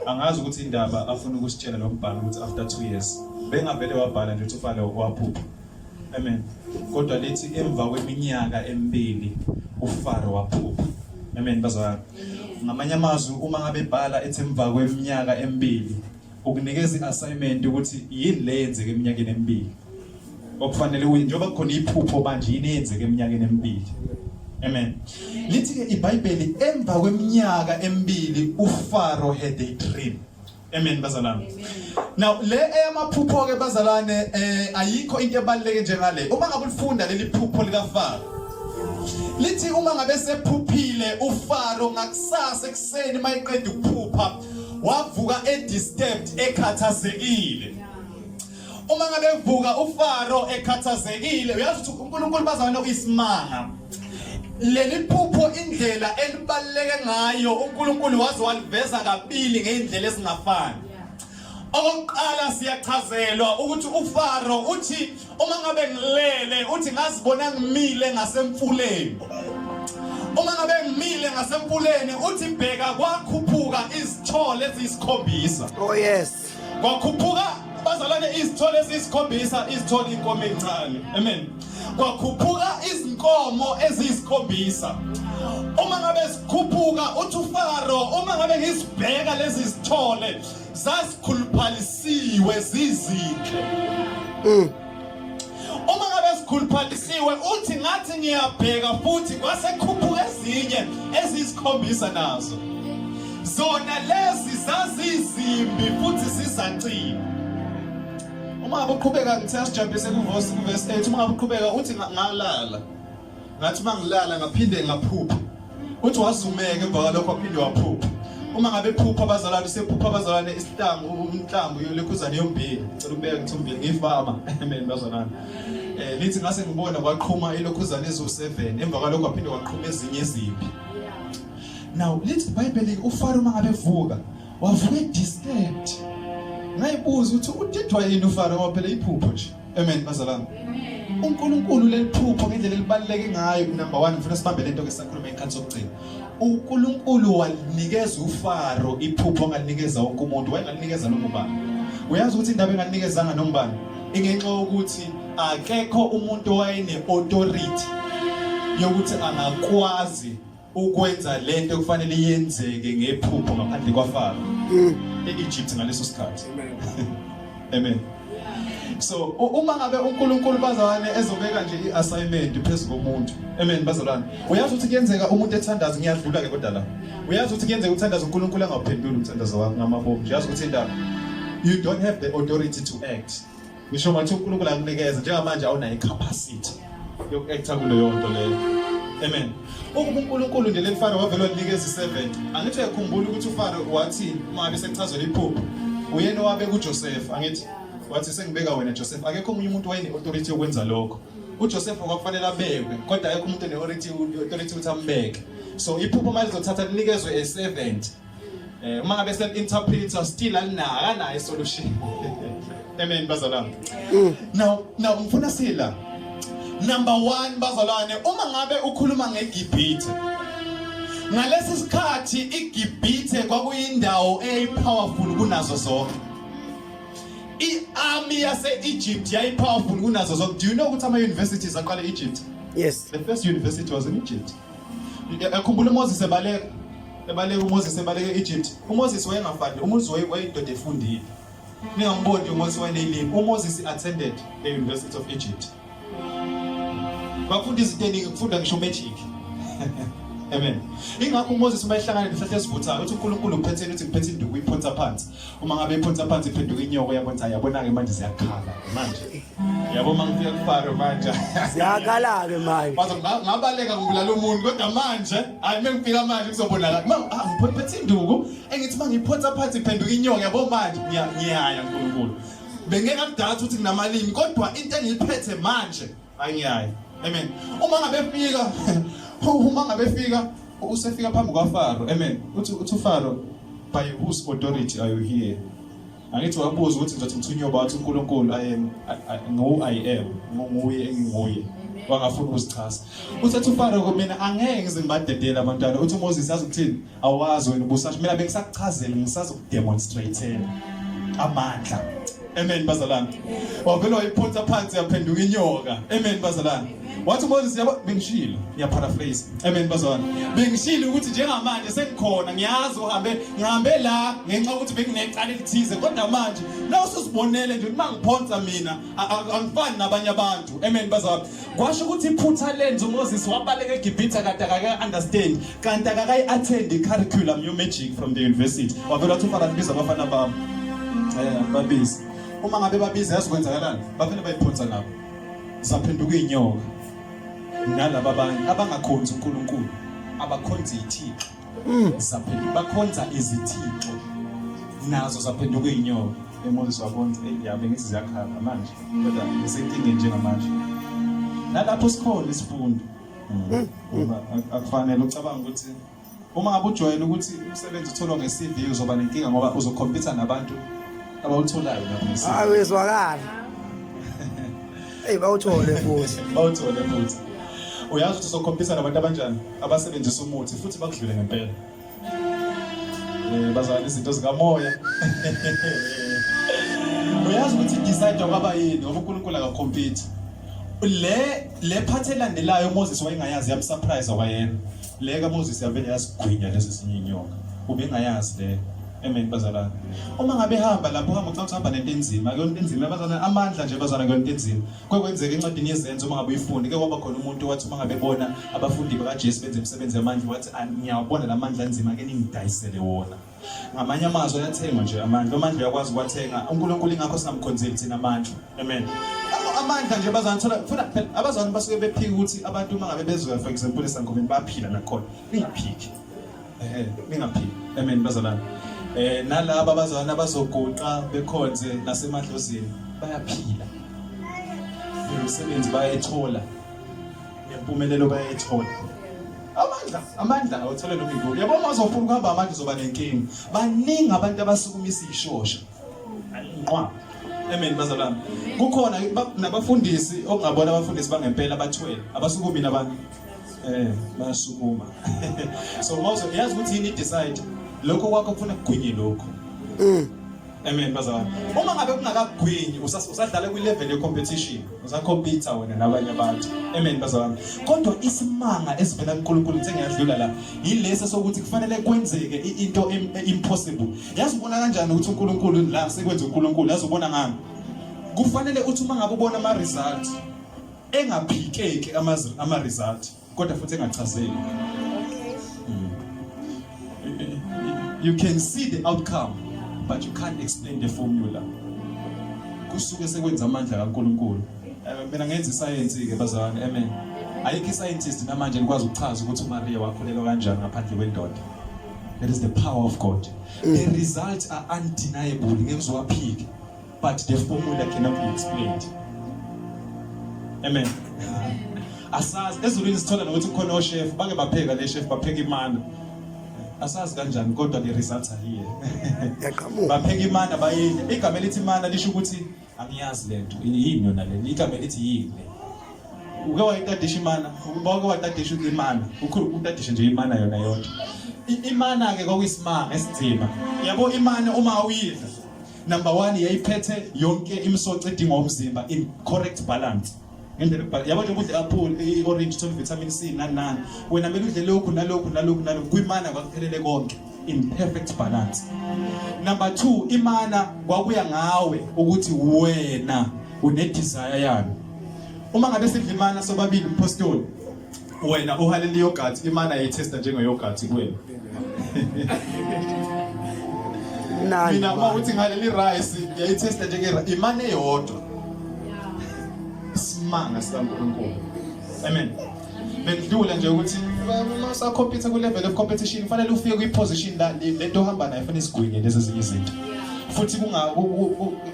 angazi ukuthi indaba afuna ukusitshela lo mbhalo ukuthi after 2 years bengavele wabhala nje ukuthi ufale waphupha amen kodwa lithi emva kweminyaka emibili ufaro waphupha amen bazalwane ngamanye amazwi uma ngabe bhala ethi emva kweminyaka emibili ukunikeza i-assignment ukuthi yini le yenzeke eminyakeni emibili okufanele uye njengoba kukhona iphupho manje yini eyenzeke eminyakeni emibili amen lithi ke ibhayibheli emva kweminyaka emibili ufaro had a dream amen bazalwane now le eyamaphupho ke bazalwane eh ayikho into ebaluleke njengale uma ngabe ulifunda leli phupho likafaro lithi uma ngabe sephuphile ufaro ngakusasa ekuseni mayiqeda ukuphupha wavuka edisturbed ekhathazekile uma ngabe evuka uFaro ekhathazekile uyazi ukuthi uNkulunkulu bazana uyisimanga leli phupho indlela elibaleke ngayo uNkulunkulu waze waliveza kabili ngeindlela esingafani okokuqala siyachazelwa ukuthi uFaro uthi uma ngabe ngilele uthi ngazibona ngimile ngasemfuleni uma ngabe ngimile ngasemfuleni uthi bheka kwakhuphuka izithole eziyisikhombisa oh yes kwakhuphuka bazalwane izithole eziyisikhombisa izithole inkomo encane amen kwakhuphuka izinkomo eziyisikhombisa uma ngabe sikhuphuka uthi ufaro uma ngabe ngisibheka lezi zithole zasikhuluphalisiwe zizinhle mm. uma ngabe sikhuluphalisiwe uthi ngathi ngiyabheka futhi kwasekhuphuka ezinye ezisikhombisa nazo zona lezi zazizimbi futhi zizaciwe uma ngabe uqhubeka ngithe sijabhise kuvesi kuvesi 8 uma ngabe uqhubeka uthi ngalala ngathi uma ngilala ngaphinde ngaphupha uthi wazumeka emva kwalokho waphinde waphupha uma ngabe phupha abazalwane sephupha abazalwane isihlangu umhlambu yolekhuzane yombili ngicela ukubeka ngithi umbili ngiyifama amen bazalwane eh lithi ngase ngibona kwaqhuma ilokhuzane ezu7 emva kwalokho waphinde waqhuma ezinye izimpi now lithi ibhayibheli ufaro uma ngabe vuka wavuka disturbed ngayibuza ukuthi udidwa yini ufaro ngoba phela iphupho nje Amen bazalwane. Amen. UNkulunkulu leliphupho ngendlela elibaluleke ngayo number 1 ngifuna sibambe lento ke sakhuluma inkhathi sokugcina. uNkulunkulu walinikeza uFaro iphupho ngalinikeza wonke umuntu wayengalinikeza noma ubani uyazi ukuthi indaba engalinekezanga noma ubani ingenxa yokuthi akekho umuntu owayene authority yokuthi angakwazi ukwenza lento kufanele yenzeke ngephupho ngaphandle kwaFaro mm. e-Egypt ngaleso sikhathi amen so uma ngabe uNkulunkulu bazalwane ezobeka nje i-assignment phezu komuntu amen bazalwane uyazi ukuthi kuyenzeka umuntu ethandaza ngiyadlula ke kodwa la uyazi ukuthi kuyenzeka uthandaza uNkulunkulu angaphenduli umthandazo wakho ngamabomu uyazi ukuthi indaba you don't have the authority to act ngisho ngathi uNkulunkulu akunikeza njengamanje awunayo icapacity yokuactor kuleyo nto leyo amen ukuba uNkulunkulu nje lefaro wavela wanikeza i7 angithi uyakhumbula ukuthi ufaro wathi uma ngabe sekuchazela iphupho uyena owabe kuJoseph angithi wathi sengibeka wena Joseph akekho omunye umuntu wayene authority yokwenza lokho uJoseph kwakufanele abekwe kodwa akekho umuntu ne authority authority ukuthi ambeke so iphupho mali zothatha linikezwe a servant Eh uma ngabe sen interpreter still alinaka naye solution. Amen bazalwane. Mm. Now now ngifuna sila. Number 1 bazalwane uma ngabe ukhuluma ngeGibhithe. Ngalesi sikhathi iGibhithe kwakuyindawo eyipowerful kunazo zonke. I-army yase-Egypt yayipowerful kunazo zonke. Do you know ukuthi ama-universities aqala e-Egypt? Yes. The first university was in Egypt. Ekhumbula uMoses ebaleka ebaleka uMoses ebaleka e-Egypt. UMoses wayengafani, uMoses wayeyindoda efundile. Ningamboni uMoses wayeleyilimi. UMoses attended the University of Egypt. Bafunda izinto eningi, kufunda ngisho magic. Amen. Ingakho uMoses uma ehlangana nesihlahla esivuthayo uthi uNkulunkulu uphetheni uthi ngiphethe induku uyiphonsa phansi. uma ngabe iphonsa phansi iphenduka inyoko yabo ngithi yabona-ke manje ziyakhala manje yabo uma ngifika kufaro manje ziyakhala-ke manje ngabaleka ngibulala umuntu kodwa manje hayi uma ngifika manje kuzobonakala ma ah, ngiphethe induku engithi uma ngiphonsa phansi iphenduka inyoko yabo manje ngiyaya nkulunkulu bengeke akudala ukuthi nginamalimi kodwa into engiyiphethe manje anyayo amen uma ngabe fika uma ngabe fika usefika phambi kwaFaro amen uthi uthi uFaro by whose authority are you here angithi wabuza ukuthi ngizothi ngithunywe bathi uNkulunkulu i am ngu i am nguye enginguye wangafuna ukuzichasa uthi athi uFaro mina angeke ngize ngibadedele abantwana uthi uMoses azokuthini awazi wena ubusasho mina bengisakuchazela ngisazokudemonstratela amandla amen bazalwane wavele wayiphonsa phansi yaphenduka inyoka amen bazalwane wathi moses yabo bengishilo ngiyaparaphrase amen bazalwane bengishilo ukuthi njengamanje sengikhona ngiyazi uhambe ngihambe la ngenxa ukuthi benginecala elithize kodwa manje nawusuzibonele nje uma ngiphonsa mina angifani nabanye abantu amen bazalwane kwasho ukuthi iphutha lenza umoses wabaleka egibhitha kade akaka-understand kanti akakayi-attend i-curriculum yomagic from the university wavela wathi ufana libiza abafana bami um babize uma ngabe babiza yazi kwenzakalani bavele bayiphonsa nabo saphenduka iy'nyoka nalaba abanye abangakhonzi unkulunkulu abakhonzi ithixo mm. saphenduka bakhonza izithixo nazo zaphenduka izinyoka emoses wabona yabe ngithi ziyakhala manje kodwa ngisenkingeni njengamanje nalapho sikhona isifundo mm. ngoba akufanele ucabanga ukuthi uma ngabe ujwayele ukuthi umsebenzi utholwa nge-cv uzoba nenkinga ngoba uzokhompyutha nabantu abawutholayo lapho nge-cv hayi wezwakala eyi bawuthole futhi bawuthole futhi uyazi ukuthi uzokhompyutha nabantu abanjani abasebenzisa umuthi futhi bakudlule ngempela um bazalana izinto zikamoya uyazi ukuthi idecide kwaba yini ngoba unkulunkulu akakhompyutha le le phathi elandelayo umoses wayengayazi yamsurprise kwayena le kamoses yavele yasigwinya lesi sinye inyoka ubengayazi le amen bazalwane uma ngabe hamba lapho hamba ucathi uhamba nento enzima kuyona into enzima bazalwane amandla nje bazalwane kuyona into enzima Kwekwenzeka encwadini yezenzo uma ngabe uyifunde ke kwaba khona umuntu wathi uma ngabe bona abafundi bakaJesu benza imisebenzi yamandla wathi ngiyawabona la mandla anzima ke ningidayisele wona ngamanye amazwi ayathengwa nje amandla amandla uyakwazi ukwathenga uNkulunkulu ingakho singamkhonzeli thina amandla amen amandla nje bazanithola futhi phela abazalwane basuke bephika ukuthi abantu uma ngabe bezoya for example esangomeni baphila nakhona ingaphiki ehe ningaphili amen bazalwane eh nalabo abazalwane abazoguqa bekhonze nasemadlozini bayaphila umsebenzi bayethola nempumelelo bayethola amandla amandla awuthole noma ikuphi yabo uma uzofuna ukuhamba amandla uzoba nenkinga baningi abantu abasukumisa ishosha nqwa amen bazalwane kukhona nabafundisi okungabona abafundisi bangempela abathwele abasukumile abantu eh bayasukuma so mawuzo yazi ukuthi yini decide lokho kwakho kufuna kugwinye lokho mm. amen bazalwane uma ngabe kungakagwinyi usadlala kwi-level ye-competition usacompita wena nabanye abantu amen bazalwane kodwa isimanga esivela kunkulunkulu ngithe ngiyadlula la yilesi sokuthi kufanele kwenzeke into impossible yazi ubona kanjani ukuthi unkulunkulu la sekwenza unkulunkulu yazi ubona ngani kufanele uthi uma ngabe ubona ama-results engaphikeki ama result kodwa futhi engachazeki hmm. you can see the outcome but you can't explain the formula kusuke sekwenza amandla kaNkuluNkulu eh, mina ngenza isayensi ke bazalwane amen ayikho iscientist namanje likwazi ukuchaza ukuthi uMaria wakhulelwa kanjani ngaphandle kwendoda that is the power of God the results are undeniable ngeke uzowaphike but the formula cannot be explained amen asazi ezulwini sithola nokuthi khona oshef bake bapheka le chef bapheka imana asazi kanjani kodwa le results ayiye yaqhamuka bapheka imana bayidla igama elithi imana lisho ukuthi angiyazi lento yini yona le igama elithi yini uke wayitadisha imana ubawuke watadisha imana ukhulu utadisha nje imana yona yodwa imana ke kwakuyisimanga esinzima yabo imana uma uyidla number one yayiphethe yonke imisoco edingwa umzimba in correct balance ngendlela ukubhala yabo nje ukudla apple i-orange uthole vitamin c nani nani wena kumele udle lokhu nalokhu nalokhu nalokhu kwimana kwakuphelele konke in perfect balance number two imana kwakuya ngawe ukuthi wena unedesire yalo uma ngabe sidla imana sobabili umphostoli Wena uhalela iyogathi imana yayithesta njengeyogathi kuwena. Nani. Mina uma uthi ngaleli rice yayithesta njenge imana eyodwa. Simanga sikaNkulunkulu. Amen. Bendlula nje ukuthi uma sakhompetha ku level of competition kufanele ufike kwi position la lento ohamba nayo fanele isigwinye lezi ezinye izinto. futhi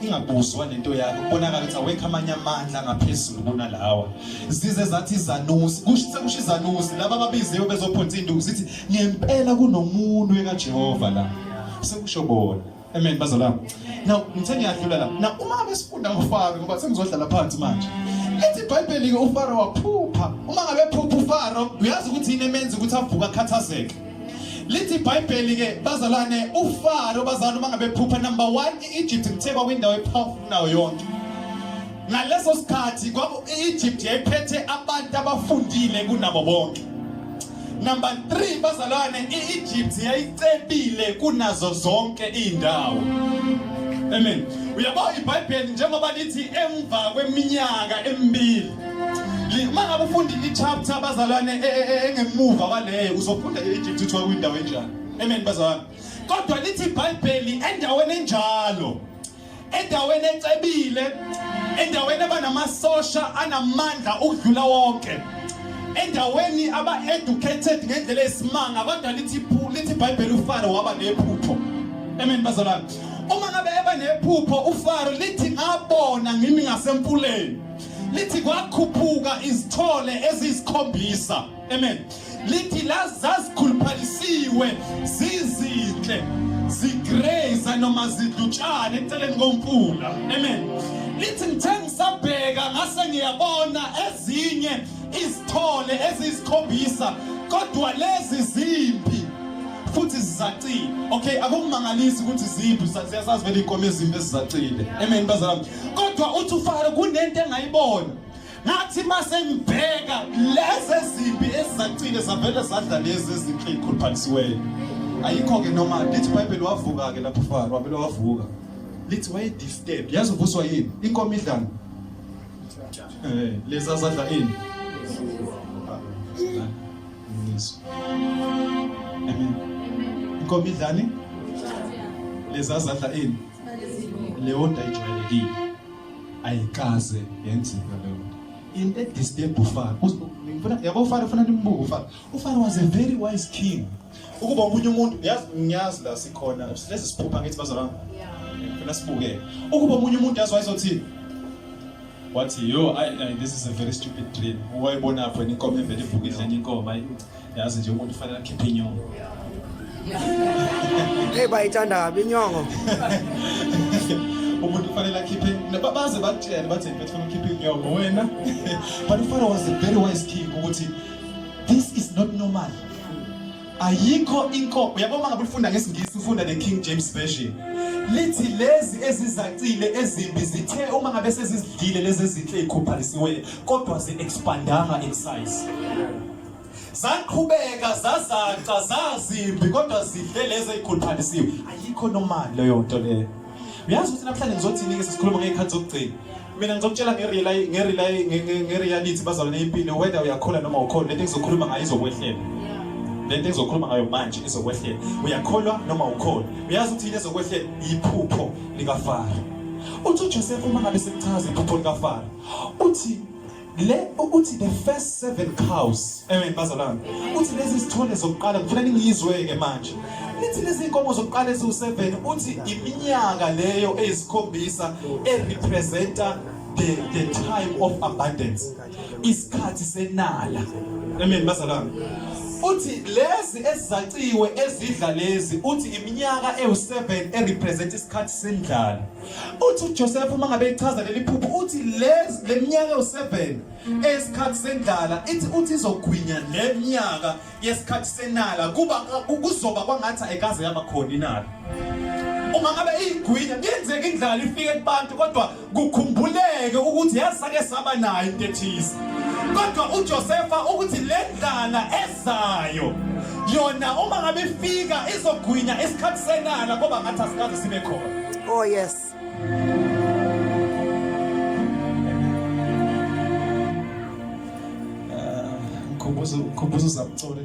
ingabuzwa lento yakho kubonakala ukuthi awekho amanye amandla ngaphezulu kunalawa zize zathi izanusi kusho sekusho izanusi laba ababiziwe bezophonsa induku sithi ngempela kunomuntu ekaJehova la sekusho bona amen bazalwane now ngithe ngiyadlula la na uma abesifunda ngofaro ngoba sengizodlala phansi manje ethi ibhayibheli ke ufaro waphupha uma ngabe phupha ufaro uyazi ukuthi yini emenza ukuthi avuka akhathazeke lithi ibhayibheli ke bazalwane ufaro bazalwane uma ngabe phupha number 1 iEgypt kuthe kwakwindawo epowerful nayo yonke ngaleso sikhathi kwaku Egypt yayiphethe abantu abafundile kunabo bonke number 3 bazalwane iEgypt yayicebile kunazo zonke indawo amen uyabo iBhayibheli njengoba lithi emva kweminyaka emibili uma ngabe ufunda i-chapter abazalwane e, e, e, engemuva kwaleyo uzofunda i-egypt kuthiwa kwindawo enjani amen bazalwane kodwa lithi ibhayibheli endaweni enjalo endaweni ecebile endaweni abanamasosha anamandla ukudlula wonke endaweni aba-educated ngendlela esimanga kodwa lithi lithi ibhayibheli ufaro waba nephupho amen bazalwane uma ngabe eba nephupho ufaro lithi ngabona ngimi ngasemfuleni lithi kwakhuphuka izithole eziyisikhombisa Amen. Lithi la zazikhuluphalisiwe zizinhle zigreza noma zidutshane eceleni komfula. Amen. Lithi ngithe ngisabheka ngase ngiyabona ezinye izithole ezisikhombisa kodwa lezi zimpi futhi zizacile okay akumangalisi ukuthi ziphi siyasazi vele inkomo ezimbi ezizacile amen bazalwane kodwa uthi ufaro kunento engayibona ngathi mase ngibheka lezi ezimbi ezizacile zavele zadla lezi ezinhle ikhuluphalisiweyo ayikho-ke noma lithi ibhayibheli wavuka-ke lapho faro wavele wavuka lithi wayedisturb yazi uvuswa yini inkomo idlani um eh, lezi azadla ini inkomo idlani lezi azadla ini leyo nto ayijwayelekile ayikaze yenzeka leyo nto into edisturb ufana ngifuna yabo ufana ufana nimbuke ufana ufana was a very wise king ukuba omunye umuntu yazi ngiyazi la sikhona lezi siphupha ngithi bazalwana ngifuna sibuke ukuba omunye umuntu yazi wayezothini wathi yo this is a very stupid dream wayebona apho inkomo evele ivukile enye inkomo yazi nje umuntu fanele akhiphe inyongo hey bayithanda kabi inyongo umuntu kufanele akhiphe baze bakutshele bathi mfethu funa ukhiphe inyongo wena but ufana was a very wise king ukuthi this is not normal ayikho inkomo uyabo uma ngabe ufunda ngesingisi ufunda ne King James version lithi lezi ezizacile ezimbi zithe uma ngabe sezizidlile lezi ezinhle ikhuphalisiwe kodwa zi expandanga in size zaqhubeka zazaca zazimbi kodwa zihle lezi ezikhuluphalisiwe ayikho nomali leyo nto leyo uyazi ukuthi namhlanje ngizothini-ke sesikhuluma ngey'khathi zokugcina mina ngizokutshela nge-reality bazalwane impilo whether uyakhula noma ukhona lento engizokhuluma ngayo izokwehlela lento engizokhuluma ngayo manje izokwehlela uyakholwa noma ukhona uyazi ukuthi yini ezokwehlela yiphupho likafaro uthi ujosefa uma ngabe sekuchaza iphupho likafaro uthi le uthi the first seven cows amen bazalwane uthi lezi sithole zokuqala ngifuna ningiyizweke manje lithi lezi inkomo zokuqala eziwu-seven uthi iminyaka leyo eyisikhombisa erepresenta the, the time of abundance isikhathi senala amen bazalwane uthi lezi ezizaciwe ezidla lezi uthi iminyaka ewu-7 erepresent isikhathi sendlala uthi uJoseph uma ngabe ichaza leli phupho uthi lezi leminyaka u7 esikhathi sendlala ithi uthi izogwinya leminyaka yesikhathi senala kuba kuzoba kwangathi ayikaze yaba khona inala uma ngabe igwinya kuyenzeka indlala ifike kubantu kodwa kukhumbuleke ukuthi yasake saba nayo into ethize kodwa uJosefa ukuthi le ndlala zayo yona uma ngabe ifika izogwinya isikhathi senala ngoba ngathi asikaze sibe khona oh yes khumbuzo khumbuzo zamcolo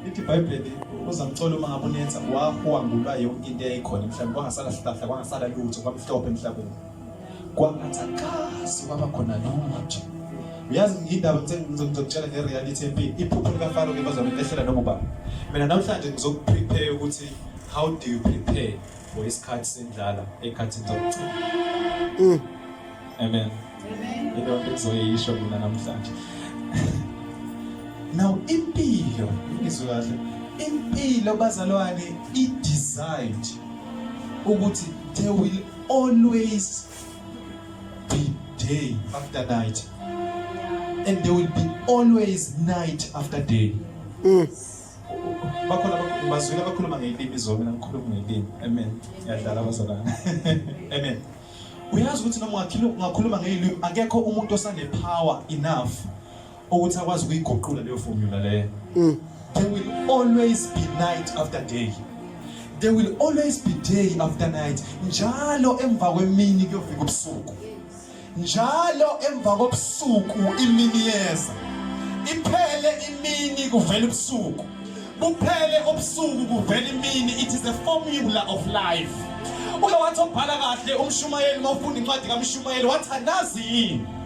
ithi ibhayibheli uzamcolo uma ngabe unenza wahwangulwa yonke into eyayikhona emhlabeni kwangasala sihlahla kwangasala lutho kwamhlophe emhlabeni kwangathi akazi kwaba khona lutho uyazi ngiyindaba ngizokutshela nge-reality empini iphupho likafaro ke bazona lehlela noma ubani mina namhlanje ngizokuprepare ukuthi how do you prepare for isikhathi sendlala ekhathini zokugcina mm. amen into engizoyisho mina namhlanje now impilo ngizwe kahle impilo bazalwane i-designed ukuthi they will always be day after night and there will be always night after day mm. bakhona bazwile abakhuluma ngelimi izolo mina ngikhuluma ngelimi amen yadlala abazalana amen uyazi ukuthi noma ungakhuluma ngelimi akekho umuntu osanepower enough ukuthi akwazi ukuyiguqula leyo formula leyo mm. there will always be night after day there will always be day after night njalo emva kwemini kuyofika ubusuku njalo emva kobusuku imini yeza iphele imini kuvela ubusuku buphele ubusuku kuvela imini it is a formula of life uke wathi obhala kahle umshumayeli mawufunda incwadi kamshumayeli wathandazi yini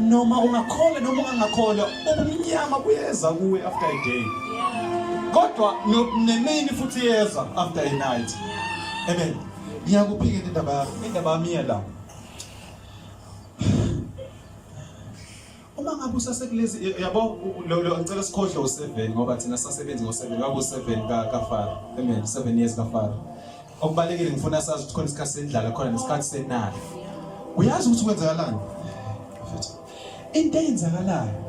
noma ungakholwa noma ungangakholwa ubumnyama buyeza kuwe after a day kodwa nemini futhi yeza after a night amen ngiyakuphikela indaba yakho indaba yami yela uma ngabe usasekulezi yabo lo lo ngicela sikhohle u7 ngoba thina sasebenzi ngo7 ngabe u7 ka ka Faro amen 7 years ka Faro Okubalekile ngifuna sazi ukuthi khona isikhathi sendlala khona nesikhathi senala. Uyazi ukuthi kwenzakalani? Into eyenzakalayo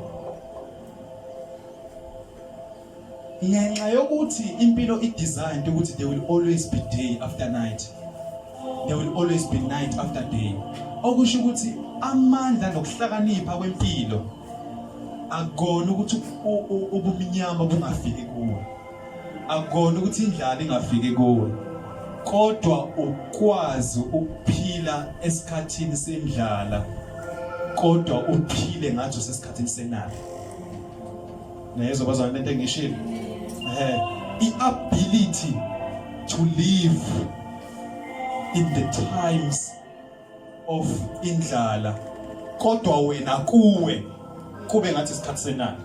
ngenxa yokuthi impilo idesigned ukuthi there will always be day after night there will always be night after day okusho ukuthi amandla nokuhlakanipha kwempilo akona ukuthi ubumnyama bungafiki kuwe akukona ukuthi indlala ingafiki kuwe kodwa ukwazi ukuphila esikhathini sendlala kodwa uphile ngathi usesikhathini senala nayezwa bazwana lento engishilo eh i ability to live in the times of indlala kodwa wena kuwe kube ngathi isikhathi senani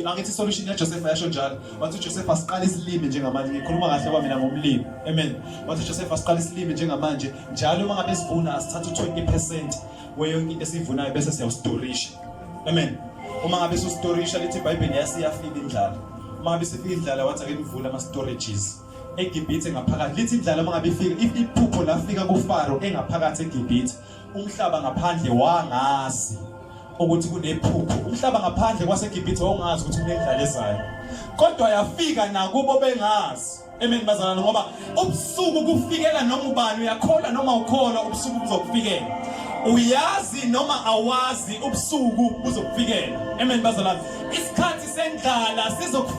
angithi solution yaJoseph yasho njalo wathi uJoseph asiqala isilimi njengamanje ngikhuluma kahle kwa mina ngomlimi amen wathi uJoseph asiqala isilimi njengamanje njalo uma ngabe sivuna asithatha u20% weyonke into esivunayo bese siyawustorisha amen uma ngabe sustorisha lithi iBhayibheli yasiyafika indlala uma ngabe sifika indlala wathi ake nivule ama storages eGibhithe ngaphakathi lithi indlala uma ngabe ifika if iphupho lafika kuFaro engaphakathi eGibhithe umhlaba ngaphandle wangazi ukuthi kunephupho umhlaba ngaphandle kwaseGibhithe wawungazi ukuthi kunendlala ezayo kodwa yafika nakubo bengazi amen bazalwane ngoba ubusuku kufikela noma ubani uyakholwa noma ukholwa ubusuku buzokufikela uyazi noma awazi ubusuku buzokufikela amen bazalwane isikhathi sendlala sizokufikela